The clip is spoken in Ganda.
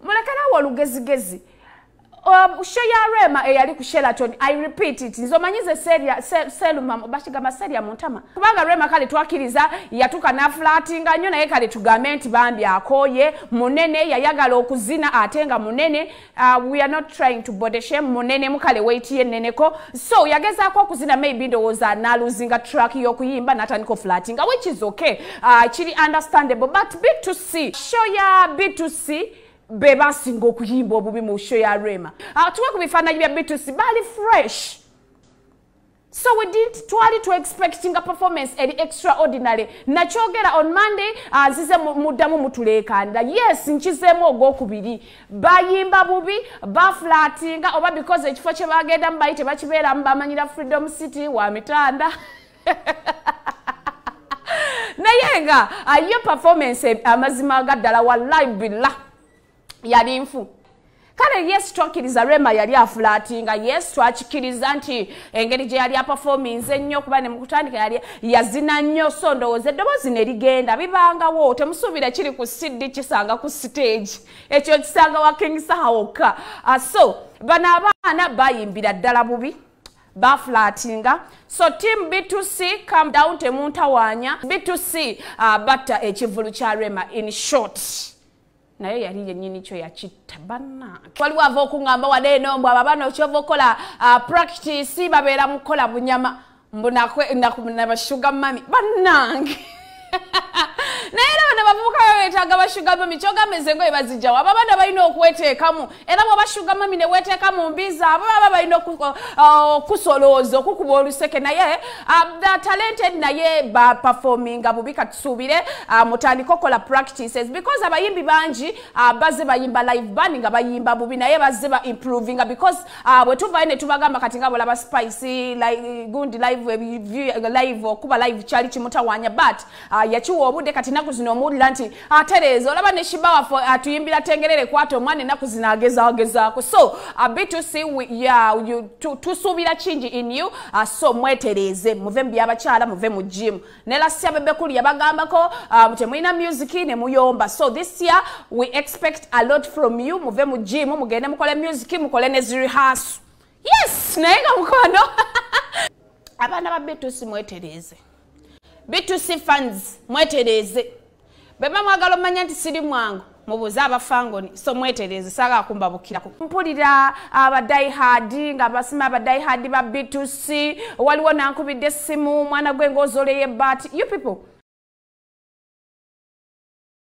mulekerawo olugezigezi um, sho ya rema eyali ku sheraton i repeat it nze omanyi ze seluma bakigamba seria muntama kubanga rema kale twakiriza yatuka nafulatinga nnyo naye kale tugambe nti bambi akoye munene yayagala okuzina ate nga munene uh, we are not trying to bodeshe munene mukale weiti yeneneko so yagezaako okuzina maybe ndowooza naluzinga track yokuyimba natandika ofulatinga which is okay Ah, kiri understandable but b to c show ya b to c be basinga okuyimba obubi mu show ya rema ah, tuwe ku bifaananyi bya b to c baali fresh so we didn't twali to expecting a performance eri extraordinary nakyogera on monday azize ah, muddamu mutuleekaanira yes nkizeemu ogwokubiri bayimba bubi baflatinga oba because ekifo kye bagendamu bali tebakibeeramu bamanyira freedom city wa mitanda naye nga ayo performance amazima ga ddala wallahi billah yali nfu kale yesu twakkiriza rema yali afulatinga yesu twakikkiriza nti engeri gye yali apafominze ennyo kuba ne mukutandika yali yazina nnyo so ndowooza eddoboozi ne ligenda bibangawo temusuubira kiri ku cd kisanga ku siteegi ekyo kisanga wa king saha wokka ah, so bano abaana bayimbira ddala bubi baflatinga so team b2c come down temuntawanya b2c uh, batta ekivulu kya rema in short naye yali yenyini kyo yakitta banange waliwo ava okungamba wade enombwa babana okyova okukola uh, practice babeera mukukola bunyama mbunabashuga mami banange naye era bano bavubuka babetaaga bashuga mami kyogamba ezengoye bazijjawo abo abaana balina okweteekamu era bwoba shuga mami neweteeka mu mbi zaabo baba balina okukusolooza uh, okukuba oluseke naye um, the talented naye baperforminga bubi katusuubire uh, mutandika okukola practices because abayimbi bangi uh, baze bayimba live band nga bayimba bubi naye baze ba improvinga because Ah, bwe tuvayo ne tubagamba kati nga bolaba spice like, gundi live live okuba live kyali kimutawaanya but uh, yakiwa obudde kati naku zino omuwulira nti atereeza ah, olaba ne shiba waffe atuyimbira tengerere kwata omwana enaku zino agezagezaako so uh, btc yeah, tusuubira kingi in you uh, so mwetereeze muve mu byabakyala muve mu jimu ne last year bebe kuli yabagambako um, temulina music ne muyomba so this year we expect a lot from you muve mu gym mugende mukole music mukole ne zirihasu yes naye nga mukwano abaana ba bitusi mwetereeze bitusi funds mwetereeze beba mwagala omanya nti siri mwangu mubuuze abafangoni so mwetereeze saga akumba bukirako mpulira abadaihadi ah, nga basima abadaihadi ba btc waliwo nankubidde essimu mwana gwe ngaozoleye but you people